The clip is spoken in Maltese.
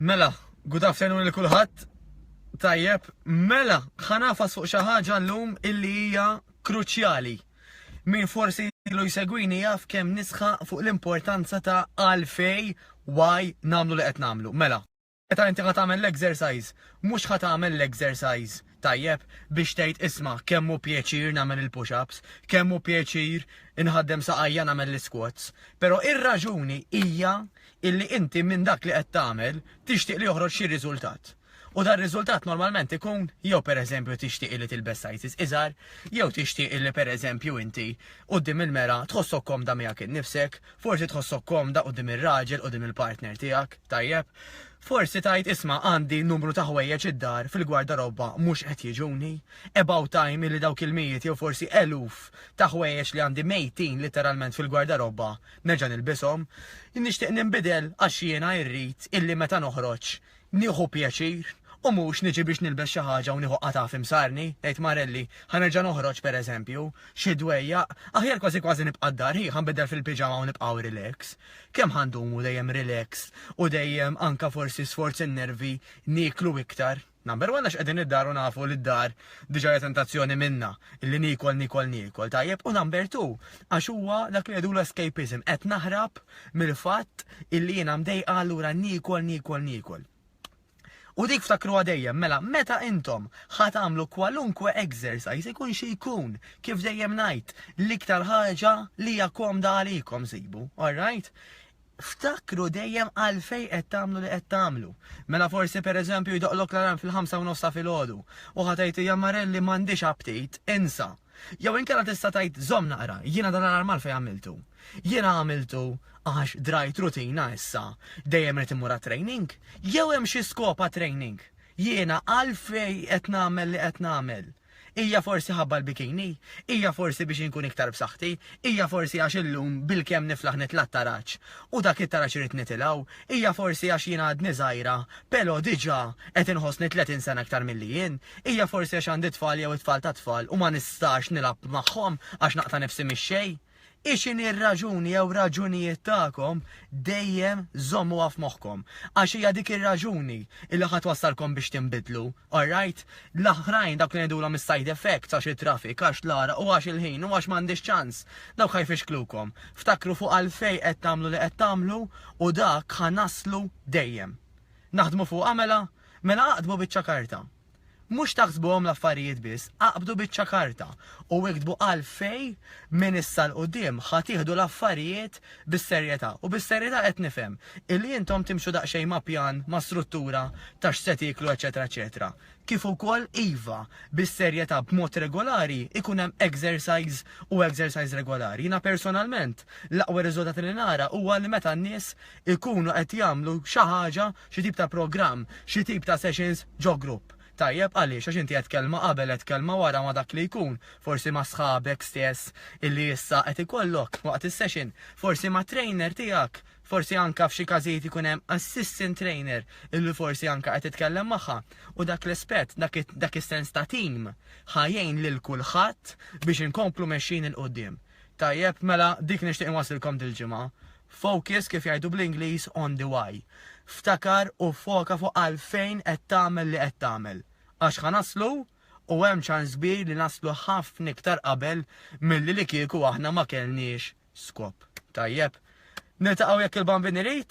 Mela, good afternoon li kulħadd. Tajjeb, mela, ħanafas fuq xi ħaġa llum illi hija kruċjali. Min forsi ilu jsegwini jaf kemm nisħa fuq l-importanza ta' għalfej why nagħmlu li qed nagħmlu. Mela, meta inti ħa tagħmel l-exercise, mhux ħa tagħmel l-exercise Tajjeb biex tgħid isma' kemm hu pjaċir nagħmel il-push-ups, kemm hu pjaċir inħaddem saqajja nagħmel l-isquats, però ir-raġuni hija illi inti minn dak li qed tagħmel tixtieq li joħroġ xi riżultat. U dar-riżultat normalment ikun jew pereżempju tixtieq illi tilbes sizes iżgħar, jew tixtieq illi pereżempju inti quddiem il-mera tħossok komda miegħek innifsek, forsi tħossok komda quddiem ir-raġel, quddiem il-partner tiegħek, tajjeb? Forsi tgħid isma' għandi numru ta' ħwejjeġ id-dar fil-gwardarobba mhux qed jiġuni. About time illi dawk il-mijiet jew forsi eluf ta' ħwejjeġ li għandi mejtin litteralment fil-gwardarobba nerġa' nilbishom. Nixtieq ninbidel għax jiena irrid illi meta noħroġ nieħu pjaċir u mhux niġi biex nilbes xi ħaġa u nieħu qatgħa f'imsarni. Tgħid Marelli, ħa nerġa' noħroġ pereżempju, xi dwejjaq, aħjar kważi kważi nibqa' d-dar, hi ħa nbiddel fil-piġama u nibqgħu relax. Kemm ħa ndumu dejjem relaxed u dejjem anke forsi sforz in-nervi nieklu iktar? Number one għax qegħdin id-dar u nafu li d-dar diġà hija tentazzjoni minnha illi niekol, niekol, niekol, tajjeb? U number two għax huwa dak li ngħidulu escapism, qed naħrab mill-fatt illi jiena mdejqa allura niekol, niekol, niekol. U dik ftakruha dejjem, mela meta intom ħa tagħmlu kwalunkwe exercise ikun xi jkun, kif dejjem ngħid, l-iktar ħaġa li hija komda għalikom sibu, alright? Ftakru dejjem għalfej qed tagħmlu li qed tagħmlu. Mela forsi pereżempju jdoqlok l-alarm fil-ħamsa u nofs ta' filgħodu u ħa tgħid hija Marelli m'għandix aptit, insa. Jew inkella tista' tgħid żomm naqra, jiena dan l-alarm għalfejn għamiltu? Jiena għamiltu għax drajt rutina issa dejjem irid immur għat-training? Jew hemm xi skop għat-training? Jiena għalfejn qed nagħmel li qed nagħmel? Hija forsi ħabba l-bikini? Hija forsi biex inkun iktar b'saħħti? Hija forsi għax illum bilkemm niflaħ nitla' t-taraġ u dak it-taraġ irid nitilgħu? Hija forsi għax jiena għadni żgħira Però diġà qed inħossni tletin sena iktar milli jien. Hija forsi għax għandi tfal jew it-tfal tat-tfal u ma nistax nilgħab magħhom għax naqta' nifsi mix-xejn? Hi x'inhi r-raġuni jew raġunijiet tagħkom dejjem żommuha f'moħħkom għax hija dik ir-raġuni li ħa twassalkom biex tinbidlu, alright? L-oħrajn dawk li ngħidulhom is-side effects għax it-traffic, għax l-għaraq u għax il-ħin u għax m'għandix ċans, dawk ħa jfixklukom. Ftakru fuq għalfejn qed tagħmlu li qed tagħmlu u dak ħa naslu dejjem. Naħdmu fuqha mela? Mela aqdmu biċċa karta. Mhux taħsbuhom l-affarijiet biss, aqbdu biċċa karta u iktbu għalfejn minn issa 'l quddiem ħa tieħdu l-affarijiet bis-serjetà. U bis-serjetà qed nifhem illi intom timxu daqsxejn ma' pjan, ma' struttura ta' x'se tieklu eċċetera eċċetera. kif ukoll, iva, bis-serjetà b'mod regolari, ikun hemm exercise u exercise regolari. Jiena personalment, l-aqwa riżultat li nara huwa li meta n-nies ikunu qed jagħmlu xi ħaġa, xi tip ta' programm, xi tip ta' sessions ġo grupp. Tajjeb, għaliex? Għax inti għedt kelma qabel, għedt kelma wara ma' dak li jkun, forsi ma' sħabek stess illi issa qed ikollok waqt is-session, forsi mat-trainer tiegħek, Forsi anke f'xi każijiet ikun hemm assistant trainer illi forsi anke qed titkellem magħha u dak l-espett, dak is-sens ta' tim ħa jgħin lil kulħadd biex inkomplu mexjin 'il quddiem. Tajjeb, mela dik nixtieq inwasslilkom dil-ġimgħa. Focus, kif jgħidu bl-Ingliż, on the why. Ftakar u ffoka fuq għalfejn qed tagħmel li qed tagħmel. Għax ħa naslu! u hemm ċans kbir li naslu ħafna iktar qabel milli li kieku aħna ma kellniex skop. Tajjeb. Niltaqgħu jekk il-Bambin irid.